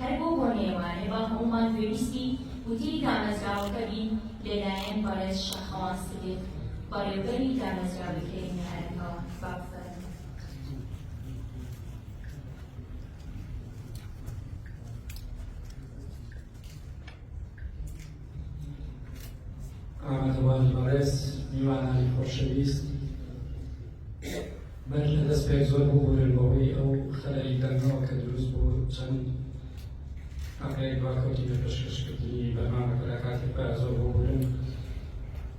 هەر بۆ بۆنەیە وانێ با هەموومان گوێبیستی وتەی دامەزراوەکە بین لەلایەن بەڕێز شاخەوان سدیق بەڕێوبەری دامەزراوەی کەریم نەعەلەکەوە باس ئامادەبوانی بەڕێز میوانانی خۆشەویست بەش لە دەست پێک زۆر ببوورن بەوەی ئەو خەلەلی دەنگەوە کە دروست بوو چەند ئەقەیەک باکەوتی لە پێشکەشکردنی بەرنامەکە لە کاتی پای زۆر ببوورن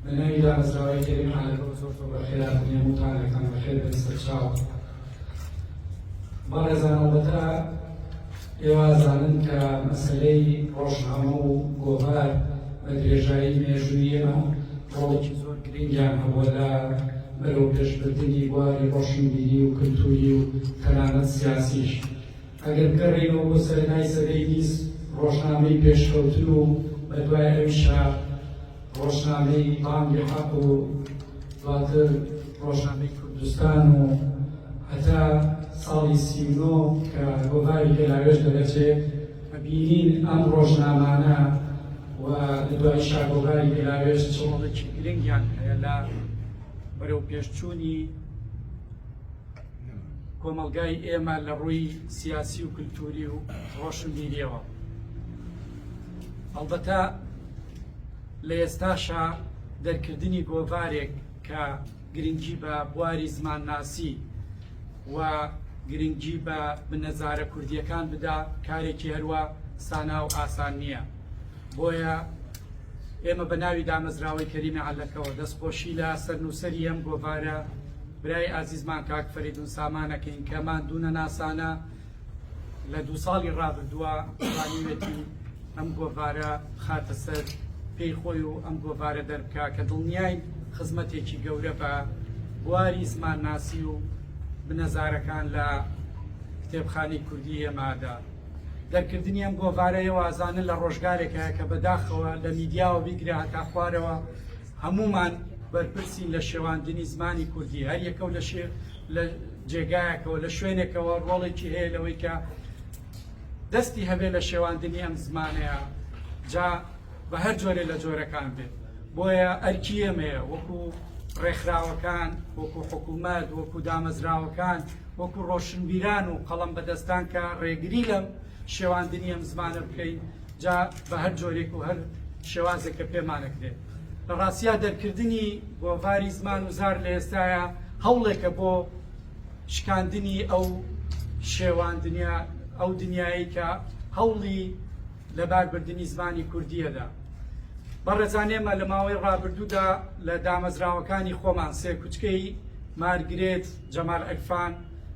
بە ناوی دامەزراوەی کەریم عالەکە زۆر زۆر بەخێراتنیە موتانەکان بەخێر بن سەرچاو بەڕێزان ئەڵبەتە ئێوە ئەزانن کە مەسەلەی ڕۆژنامە و گۆڤار بە درێژایی مێژووی ئێمە ڕۆڵێکی زۆر گرنگیان هەبووە لە بەرەو پێشبردنی بواری ڕۆشنبیری و کلتوری و تەنانەت سیاسیش ئەگەر بگەڕێنەوە بۆ سەرنای سەدەی بیست ڕۆژنامەی پێشکەوتن و بەدوای ئەویشا ڕۆژنامەی بانگی حەق و دواتر ڕۆژنامەی کوردستان و هەتا ساڵی سی و نۆ کە گۆڤاری گەلاوێژ دەرەچێت کە بینین ئەم ڕۆژنامانە و لە دوای شاگۆڤاری گەلاوێژ چڵەڵێکی گرنگیان هەیە لە بەرەو پێشچوونی کۆمەلگای ئێمە لە ڕووی سیاسی و کللتوری و ڕۆشنبیریەوە هەڵبەتە لە ئێستاشا دەرکردنی گۆڤارێک کە گرنگی بە بواری زمانناسی و گرنگی بە بنەزارە کوردییەکان بدا کارێکی هەروا سانا و ئاسان نییە بۆیە ئێمە بە ناوی دامەزراوەی کەریمی عەلەکەوە دەستخۆشی لە سەرنووسەری ئەم گۆڤارە برای ئازیزمان کاک فەریدون سامانەکەین کە ماندوو نەناسانە لە دوو ساڵی ڕابردووە توانیوێتی ئەم گۆڤارە بخاتە سەر پێی خۆی و ئەم گۆڤارە دەربکە کە دڵنیای خزمەتێکی گەورە بە بواری زمانناسی و بنەزارەکان لە کتێبخانی کوردی ئێمادا دەرکردنی ئەم گۆڤارەیە وازانە لە ڕۆژگارێکە کە بەداخەوە لە میدیاوە بیگرە هەتا خوارەوە هەمومان بەرپرسین لە شێواندنی زمانی کوردی هەر یەکە و لە شێ لە جێگایەکەوە لە شوێنێکەوە ڕۆڵێکی هەیە لەوەی کە دەستی هەبێ لە شێواندنی ئەم زمانەیە جا بە هەر جۆرێ لە جۆرەکان بێت بۆیە ئەرکی ئەمەیە وەکو ڕێکخراوەکان وەکو حکوومەت وەکو دامەزراوەکان وەکو ڕۆشنبیران و قەڵم بەدەستان کە ڕێگری لەم شێواندنی ئەم زمانە بکەین جا بە هەر جۆرێک و هەر شێوازێک کە پێمانەکرێ. لە ڕاستیا دەرکردنی گۆڤاری زمان و زار لە ئێستایا هەوڵێکە بۆ شکاندنی ئەو شێواندنیە، ئەو دنیایەی کە هەوڵی لەباربردنی زمانی کوردییە دا. بەڕێزان ئێمە لە ماوەی ڕابردوودا لە دامەزراوەکانی خۆمان سێکوچکەی مارگرێت جەمال عیرفان،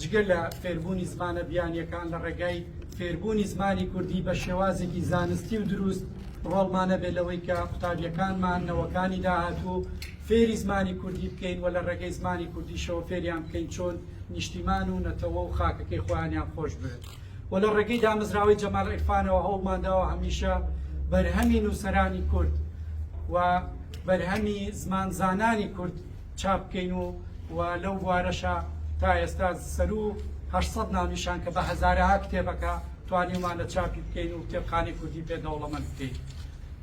جگە لە فێربوونی زمانە بیانییەکان لە ڕێگای فێربوونی زمانی کوردی بە شێوازێکی زانستی و دروست ڕۆڵمان هەبێت لەوەی کە قوتابیەکانمان نەوەکانی داهاتوو فێری زمانی کوردی بکەین و لە ڕێگەی زمانی کوردیشەوە فێریان بکەین چۆن نیشتیمان و نەتەوە و خاکەکەی خۆیانیان خۆش بێت و لە ڕێگەی دامەزراوەی جەمال عرفانەوە هەوڵمانداوە هەمیشە بەرهەمی نووسەرانی کورد و بەرهەمی زمانزانانی کورد چاپ بکەین و و لەو بوارەشا تا ئێستا سەروو هەشت سەد ناونیشان کە بە هەزارەها کتێبەکە توانیومان لە چاپی بکەین و کتێبخانەی کوردی پێ دەوڵەمەند بکەین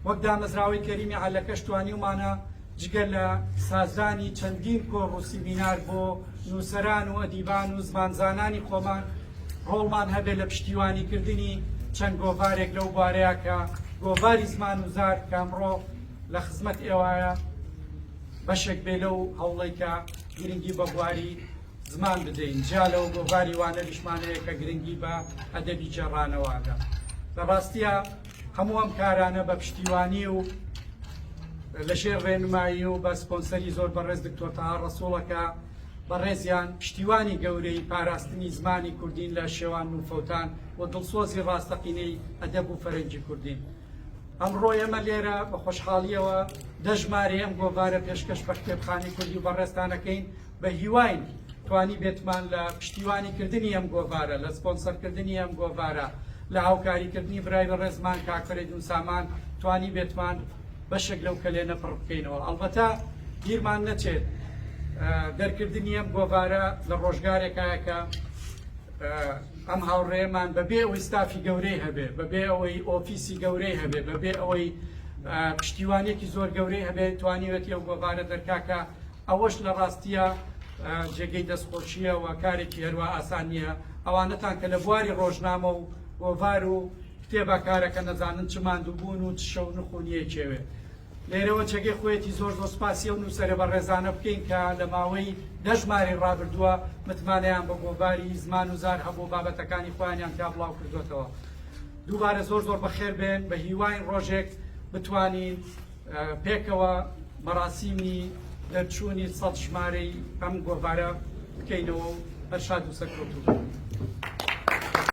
وەک دامەزراوەی کەریمی عەلەکەش توانیومانە جگە لە سازدانی چەندین کۆڕ و سیمینار بۆ نووسەران و ئەدیبان و زمانزانانی خۆمان ڕۆڵمان هەبێت لە پشتیوانیکردنی چەند گۆڤارێک لەو بوارەیە کە گۆڤاری زمان و زار کامڕۆ لە خزمەت ئێوایە بەشێک بێ لەو هەوڵەی کە گرنگی بە بواری زمان بدەین جیا لەو گۆڤاری وانەریشمان هەیە کە گرنگی بە ئەدەبی جێڕانەوادە لە ڕاستیە هەموو ئەم کارانە بە پشتیوانی و لە ژێر ڕێنمایی و بە سپۆنسەری زۆر بەڕێز دکتۆر تەها ڕەسوڵەکە بەڕێزیان پشتیوانی گەورەی پاراستنی زمانی کوردین لە شێوان و فەوتان و دڵسۆزی ڕاستەقینەی ئەدەب و فەرەنگی کوردین ئەمڕۆ ئێمە لێرە بە خۆشحاڵییەوە دە ژمارەی ئەم گۆڤارە پێشکەش بە کتێبخانەی کوردی و بەڕێزتانەکەین بە هیواین توانی بێتمان لە پشتیوانی کردنی ئەم گۆڤارە لە سپۆنسەرکردنی ئەم گۆڤارە لە هاوکاریکردنی برای بە ڕێزمان کاکفرەیدون سامان توانی بێتمان بەشێک لەو کەلێنە پڕ بکەینەوە ئەڵبەتە بیرمان نەچێت دەرکردنی ئەم گۆڤارە لە ڕۆژگارێکایەکە ئەم هاوڕێیەمان بەبێ ئەوەی ستافی گەورەی هەبێ، بەبێ ئەوەی ئۆفیسی گەورەی هەبێ، بەبێ ئەوەی پشتیوانیەکی زۆر گەورەی هەبێ توانیوێتی ئەو گۆڤارە دەرکاکا، ئەوەش لە ڕاستیە جێگەی دەستخۆشیە و کارێکی هەروا ئاسان نیە، ئەوانەتان کە لە بواری ڕۆژنامە و گۆڤار و کتێبا کارەکەن ئەزانن چ ماندووبوون و چ شەونخ و نیەکێوێ لێرەوە جێگەی خۆیەتی زۆر زۆر سپاسی ئەو نووسەرە بەڕێزانە بکەین کە لە ماوەی دە ژمارەی ڕابردووە متمانەیان بە گۆڤاری زمان و زار هەبوو بابەتەکانی خۆیانیان تیا بڵاو کردوێتەوە دووبارە زۆر زۆر بەخێر بێن بە هیواین ڕۆژێک بتوانین پێکەوە مەراسیمی دەرچوونی سەد ژمارەی ئەم گۆڤارە بکەینەوە و هەر شاد و سەرکەوتوو.